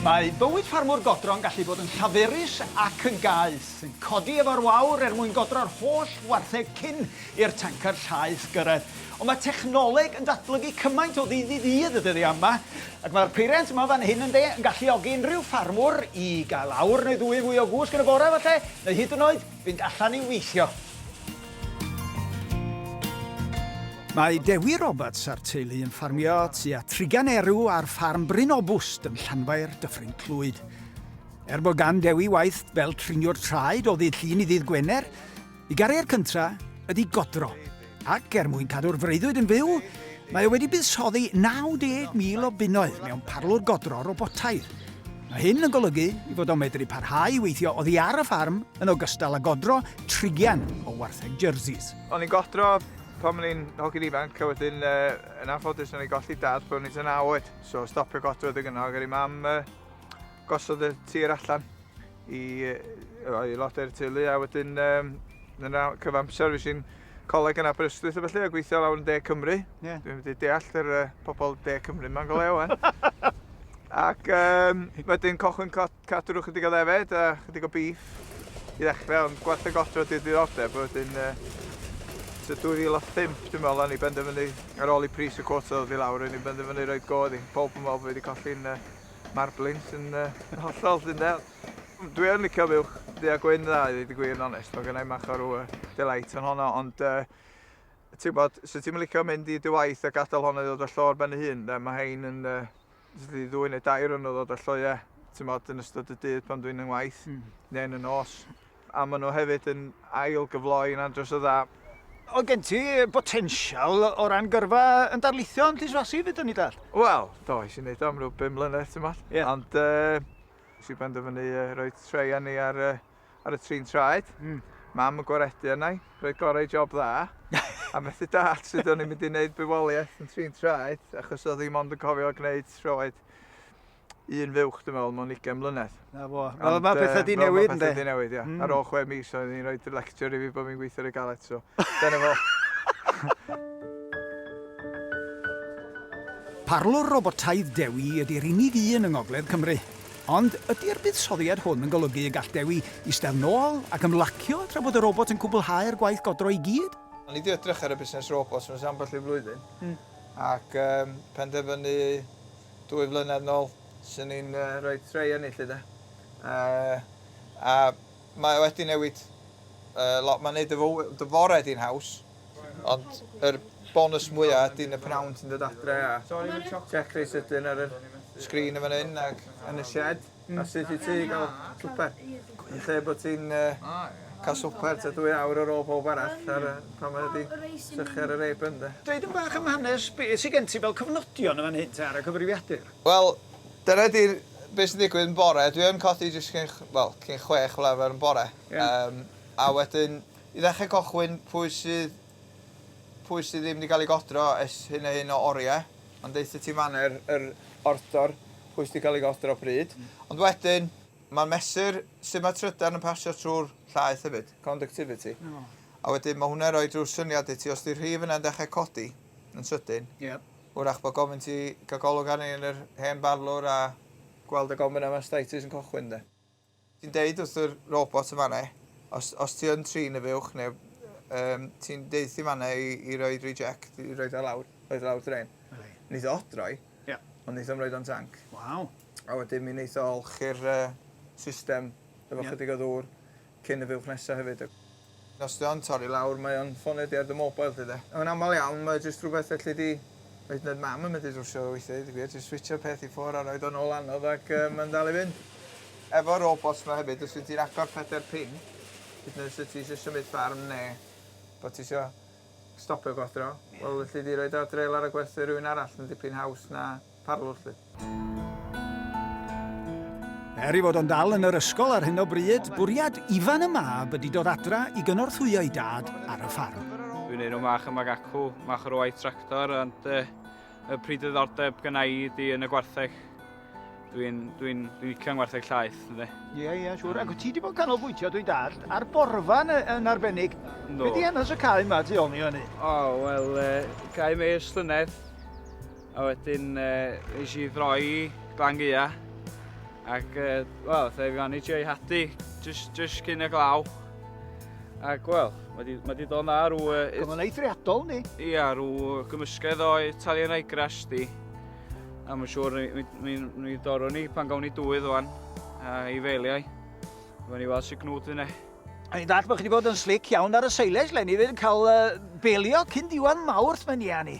Mae bywyd ffarmwr godro'n gallu bod yn llaferus ac yn gaeth, yn codi efo'r wawr er mwyn godro'r holl wartheg cyn i'r tancar llaeth gyrraedd. Ond mae technoleg yn datblygu cymaint o ddydd i ddydd y dyddiau yma, ac mae'r peiriant yma fan hyn ynde, yn galluogi unrhyw ffarmwr i gael awr neu ddwy yn fwy o gwsg yn y bore falle, neu hyd yn oed Fynd allan i weithio. Mae Dewi Roberts a'r teulu yn ffarmio tua trigan erw ar ffarm Bryn Obwst yn Llanfair, Dyffryn Clwyd. Er bod gan Dewi waith fel triniwr traed o ddydd Llun i ddydd Gwener, i garier cynta ydy godro. Ac er mwyn cadw'r freuddwyd yn fyw, mae o wedi buddsoddi 90,000 o bunnoedd mewn parlwr godro robotaidd. Mae hyn yn golygu i fod o'n medru parhau i weithio oddi ar y ffarm yn ogystal â godro trigian o wartheg Jerseys. O'n i'n godro pan o'n i'n hogyn ifanc a wedyn yn anffodus o'n i'n golli dad pan o'n i'n tua naw oed, so stopio godro adeg yna ac aru mam gosod y tir allan. i aelodau'r teulu a wedyn um, yn y cyfamser fes i'n coleg yn Aberystwyth a felly a gweithio lawr yn De Cymru. Yeah. Dwi'n wedi deall yr uh, pobol De Cymru yma'n goleu o'n. Ac um, wedyn cochwyn cadw'r ychydig o ddefed a chydig o bif i ddechrau, ond gwaith y godro di'r diddordeb, wedyn uh, so 2005 dwi'n meddwl o'n i benderfynu ar ôl i pris y cwrt oedd i lawr, o'n i'n benderfynu roed godd i. Pob yn meddwl bod wedi colli'n uh, Mae'r blins yn uh, hollol sy'n del. Dwi yn licio fuwch ddu a gwyn dda, i ddweud gwir yn onest. Mae gennau mach o'r uh, delight yn honno, ond uh, ti'n bod, sy'n ti'n licio mynd i dy waith a gadael honno i ddod o llo ar ben ei hun, de, mae hein yn uh, ddwy neu dair yn ddod o llo, ie, ti'n bod, yn ystod y dydd pan dwi'n yng ngwaith, mm. neu'n y nos. a maen nhw hefyd yn ail-gyfloi'n andros o dda. Oedd gen ti botensial o ran gyrfa yn darlithio yn Llys Fasi fyd o'n i dall? Wel, do, eisiau gwneud am rhyw 5 mlynedd, ti'n modd. Yeah. Ond uh, si benderfynu uh, rhoi treu ni ar, uh, ar y trin traed. Mm. Mam yn gwaredu yna i, rhoi gorau job dda. a methu dad sydd o'n i'n mynd i wneud bywoliaeth yn trin traed, achos oedd ddim ond yn cofio gwneud troed. un fuwch, dwi'n meddwl, mewn ugain mlynedd. Na fo. Ond, Fel mae pethau di newid, ynddi? Mae pethau di newid, ia. Mm. Ar ôl chwe mis, oedd hi'n rhoi lecture i fi bod fi'n gweithio ar y galet, so. Dyna fo. Parlwr robotaidd Dewi ydy'r unig un yng Ngogledd Cymru. Ond ydy'r buddsoddiad hwn yn golygu y gall Dewi eistedd nôl ac ymlacio tra bod y robot yn cwblhau'r gwaith godro i gyd? O'n i wedi edrych ar y busnes robots mewn ambell i flwyddyn, mm. ac um, penderfynu dwy flynedd nôl, swn i'n rhoi tray ynni 'lly 'de. A mae o wedi newid lot, mae'n neud dy fore di'n haws, ond yr bonws mwya ydy yn y pnawn ti'n dod adre a check rei sydyn ar y sgrin yn fan 'yn ac yn y shed. A sut i ti gael swper? Yn lle bod ti'n cael swper tua dwy awr ar ôl pawb arall pan mae 'di sychu ar yr apron de? Dweud yn bach am hanes, be sy gen ti fel cofnodion yn fan hyn te ar y cyfrifiadur? Wel, dyna di'r be sy'n digwydd yn bore, dwi yn codi jyst cyn, wel, cyn chwech fel arfer yn bore. Ie. Yym, a wedyn i ddechre cochwyn pwy sydd Pwy sydd ddim 'di cael ei godro ers hyn a hyn o oriau, ond deutha ti manna yr yr ordor pwy sy 'di cael ei godro pryd. Ond wedyn, ma'n mesur sut mae trydan yn pasio trwy'r llaeth hefyd, conductivity. O. A wedyn ma' hwnna'n rhoi rhyw syniad i ti, os 'di'r rhif yna'n dechrau codi yn sydyn... Ie. ...wrach bod gofyn ti gael golwg arni yn yr hen barlwr a gweld y gofyn a mastitis yn cychwyn de. Ti'n deud wrth yr robot yn fan 'na, os os ti yn trin y fuwch neu yym ti'n deuthu fan 'na i i roid reject i roid o lawr roid o lawr drên. Yli. Neith o odroi. Ie. Ond neith o'm roid o'n danc. Waw. A wedyn mi neith o olchi'r yy system efo... Ie. ...chydig o ddŵr cyn y fuwch nesa hefyd. Yn os dio'n torri lawr mae o'n ffonedi ar dy mobile di de. Yn amal iawn mae o jyst rhywbeth elli di, hyd yn oed mam yn medru drwsio fo weithie deud y gwir, jyst switsio'r peth i ffwr a roid o nôl anodd ac yy ma'n dal i fynd. Efo'r robots ma hefyd os wyt ti'n agor pedair pin, hyd yn oed os wyt ti isio symud ffarm ne bo ti isio stopio godro, wel elli di roid o adre lawr a gwerthu i rywun arall, ma'n dipyn haws na parwr 'lly. Er ei fod o'n dal yn yr ysgol ar hyn o bryd, bwriad Ifan y mab ydi dod adra i gynorthwyo ei dad ar y ffarm. Dwi'n enw mach yma gacw, mach o'r waith tractor, ond uh, y pryd ddiddordeb gyna i ydi yn y gwartheg. Dwi'n dwi dwi, dwi licio yn gwartheg llaeth, ynddi. Ie, yeah, ie, yeah, siwr. Ac ti wedi bod canolbwyntio, dwi'n dall, ar borfa yn, yn arbennig. No. Be di hanes y cae yma tu ôl ni hynny? O, oh, wel, uh, cae meir slynedd. A wedyn yy es i ddraw i Glan Gaea ac yy wel fe fuon ni sioe hadu jyst jyst cyn y glaw. Ac wel, mae wedi ma wedi dod na rw... Yy, Oedd o'n eithriadol, ni? Ia, rw gymysgedd o Italian Ryegrass di. A mae'n siŵr ni, ni, ni dorwn ni pan gawn ni dwydd o'n a i feiliau. Fe ni weld sy'n gnwd yna. A ni'n dall bod chi wedi bod yn slic iawn ar y seilais, le ni fydd yn cael uh, belio cyn diwan mawrth mae'n ia ni.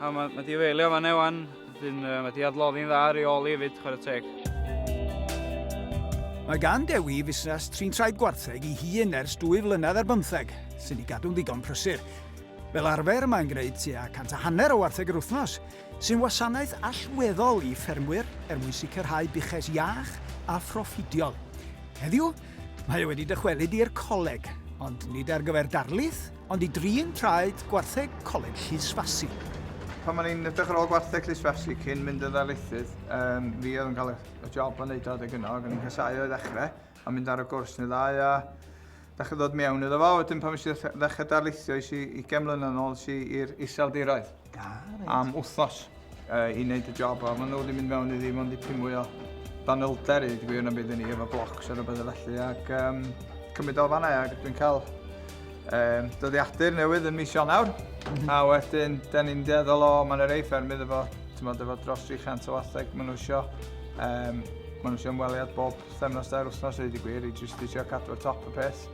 A mae, mae di wylio fan ewan, dyn, uh, mae di adloddi'n dda ar ei ôl i hefyd, chwarae teg. Mae gan Dewi fusnes trin traed gwartheg i hun ers dwy flynedd ar bymtheg, sy'n ei gadw'n ddigon prysur. Fel arfer, mae'n gwneud tua cant a hanner o wartheg yr wythnos, sy'n wasanaeth allweddol i ffermwyr er mwyn sicrhau buches iach a phroffidiol. Heddiw, mae wedi dychwelyd i'r coleg, ond nid ar gyfer darlith, Ond i drin traed gwartheg Coleg Llys Fasi. Pan o'n i'n edrych ar ôl gwartheg Llys Fasi cyn mynd yn ddarlithydd, um, fi oedd yn cael y job o wneud o adeg yno, ac o'n i'n casau o'i ddechrau, a mynd ar y gwrs neu ddau, a ddechrau ddod mewn iddo fo. Wedyn pan eisiau ddechrau darlithio, eisiau i gemlyn yn ôl, eisiau i'r iseldiroedd. am wythnos uh, i wneud y job a maen nhw wedi mynd mewn i ddim ond i pum mwy o danylder i gwir yn byd i ni efo blocs ar y bydde felly ac um, cymryd o fanna ac dwi'n cael um, dyddiadur newydd yn mis Ionawr mm -hmm. a wedyn da ni'n deddol o mae'n yr ei ffermydd efo, tymod, efo dros 300 o watheg maen nhw eisiau um, maen nhw eisiau ymweliad bob themnos dair wythnos i wedi gwir i jyst eisiau cadw'r top y peth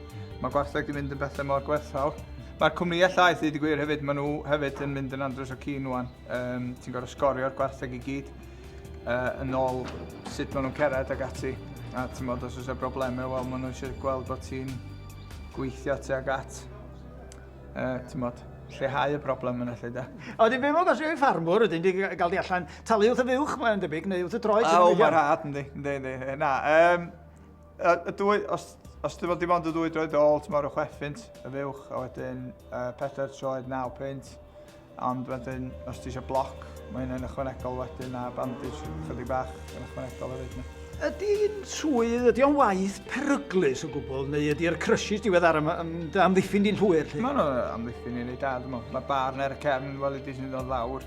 Mae gwartheg wedi mynd yn bethau mor gwerthfawr. Mae'r cwmnïau llaeth wedi gwir hefyd, maen nhw hefyd yn mynd yn andros o cyn nhw'n. Um, ti'n gorfod sgorio'r gwartheg i gyd uh, yn ôl sut maen nhw'n cered ag ati. A ti'n modd os oes y broblemau, wel maen nhw eisiau gweld bod ti'n gweithio ti ag at. Uh, ti'n modd, lleihau y broblem yna lle da. A wedyn fe mod os yw'n ffarmwr, ydyn di gael di allan talu wrth y fuwch, mae'n debyg, neu wrth y droed. A o, mae'n rhad, yndi, yndi, yndi. Na, um, Y, y dwy, os, os dim ond dim ond y ddwy droed ôl, ti'n marw chwech ffint y fuwch, a wedyn uh, pedair troed naw pint. Ond wedyn, os ti eisiau bloc, mae hynny'n ychwanegol wedyn a bandage chydig bach yn ychwanegol hefyd. Ydy'n swydd, ydy o'n waith peryglus o gwbl, neu ydy'r crysys diweddar am, am dy amddiffyn di'n llwyr? Lle? Mae'n amddiffyn i'n ei dad, dwi'n meddwl. Mae barn ar y cefn, wel, ydy sy'n dod lawr.